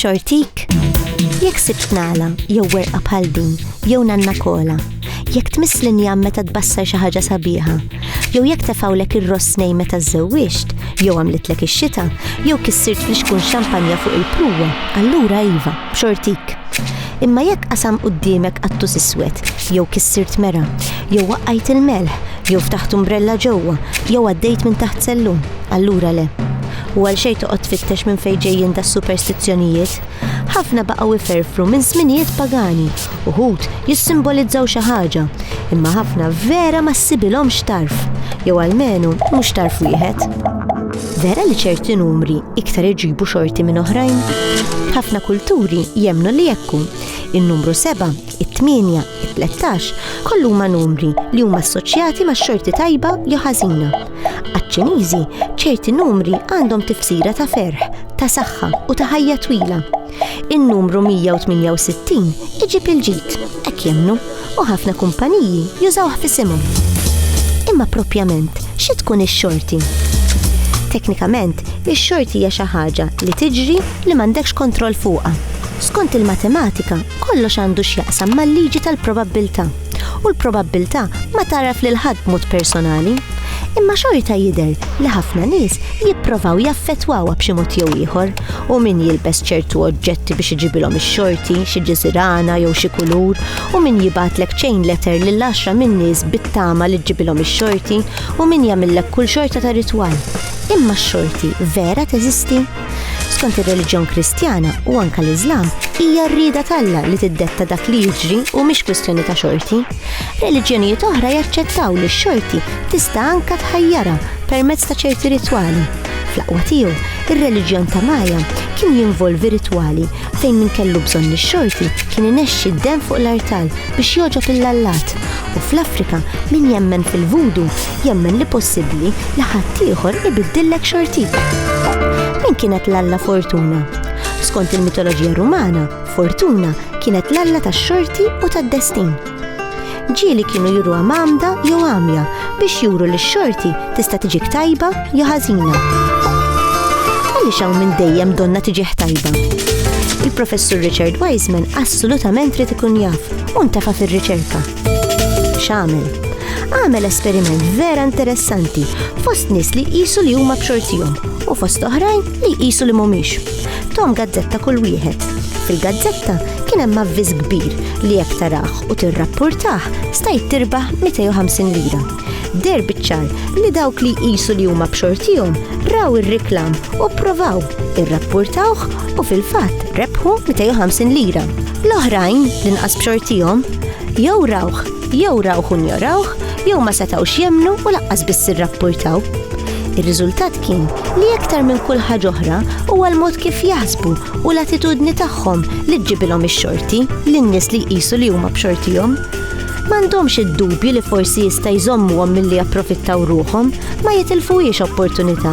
B'xortik? Jekk sibt nagħla jew werqa bħal din jew nanna kola, jekk tmiss linja meta tbassar xi ħaġa sabiħa, jew jekk tefawlek ir-ross nej meta żżewwixt, jew għamlitlek ix-xita, jew kissirt fl-ixkun xampanja fuq il-pruwa, allura iva, b'xortik. Imma jekk qasam quddiemek qattus iswed, jew kissirt mera, jew waqqajt il-melħ, jew ftaħt umbrella ġewwa, jew għaddejt minn taħt sellum, allura le. U għalxejn toqgħod tfittex minn fejn ġejjin das-superstizzjonijiet. Ħafna baqgħu iferfru minn żminijiet pagani, uħud jissimbolizzaw xi ħaġa, imma ħafna vera ma ssibilhomx tarf, jew almenu mhux tarf wieħed. Vera li ċerti numri iktar iġibu xorti minn oħrajn? Ħafna kulturi jemnu li jekku. Il-numru 7, it-8, it-13 kollu ma numri li huma assoċjati ma' xorti tajba jew ħażina. Għaċ-Ċiniżi ċerti numri għandhom tifsira ta' ferħ, ta' saħħa u ta' ħajja twila. In-numru 168 iġib il-ġid, hekk jemmnu, u ħafna kumpaniji jużawh f'isimhom. Imma proprjament xi tkun ix-xorti? Teknikament, ix-xorti hija xi ħaġa li tiġri li m'għandekx kontroll fuqha. Skont il-matematika, kollox għandu x'jaqsam mal-liġi tal-probabbiltà. u l-probabbiltà ma tagħraf lil ħadd b'mod personali, imma xorta jidher li ħafna nies jipprovaw jaffettwawha b'xi mod jew ieħor, u min jilbes ċertu oġġetti biex iġibilhom ix-xorti, xi ġiżirana jew xi kulur, u min jibgħatlek chain letter lil għaxra min-nies bit-tama li ġġibilhom ix-xorti, u min jagħmillek kull xorta ta' ritwal. Imma x-xorti vera teżisti? Skont ir-reliġjon Kristjana u anke l-Iżlam, hija r-rieda t'Alla li tiddetta dak li jiġri u mhix kwistjoni ta' xorti. Reliġjonijiet oħra jaċċettaw li x-xorti tista' anke tħajjarha permezz ta' ċerti ritwali. Fl-aqwa tiegħu, ir-reliġjon ta' Maja kien jinvolvi ritwali fejn min kellu bżonn ix-xorti kien inexxi d-demm fuq l-artal biex jogħġob il-lallat u fl-Afrika min jemmen fil-vudu jemmen li possibbli li ħaddieħor ibiddillek xortik. Min kienet l-alla Fortuna? Skont il-mitoloġija Rumana, Fortuna kienet l-alla tax-xorti u tad-destin. Ġieli kienu juru għamda jew għamja biex juru li x-xorti tista' tiġik tajba jew ħażina. Għaliex hawn minn dejjem donna tiġih tajba? Il-professur Richard Wiseman assolutament trid ikun jaf u ntafa' fir-riċerka. X'għamel? Għamel esperiment vera interessanti fost nies li jqisu li huma b'xortihom u fost oħrajn li jqisu li mhumiex. Tom gazzetta kull wieħed. Fil-gazzetta kien hemm avviż kbir li jekk taraħ u tirrappurtah stajt tirbaħ 250 lira. Der biċċar li dawk li jqisu li huma b'xortihom raw ir-reklam u provaw irrappurtawh u fil-fatt rebħu 250 lira. L-oħrajn li nqas b'xortihom jew rawh, jew rawh u njorawh, jew ma setgħux jemnu u laqqas biss irrappurtaw. Ir-riżultat kien li aktar minn kull ħaġa oħra huwa l-mod kif jaħsbu u l-attitudni tagħhom li ġġibilhom ix-xorti lin-nies li jqisu li huma b'xortihom. M'għandhomx id-dubju li forsi jista' jżommuhom milli japprofittaw ruħhom, ma jitilfuhiex opportunità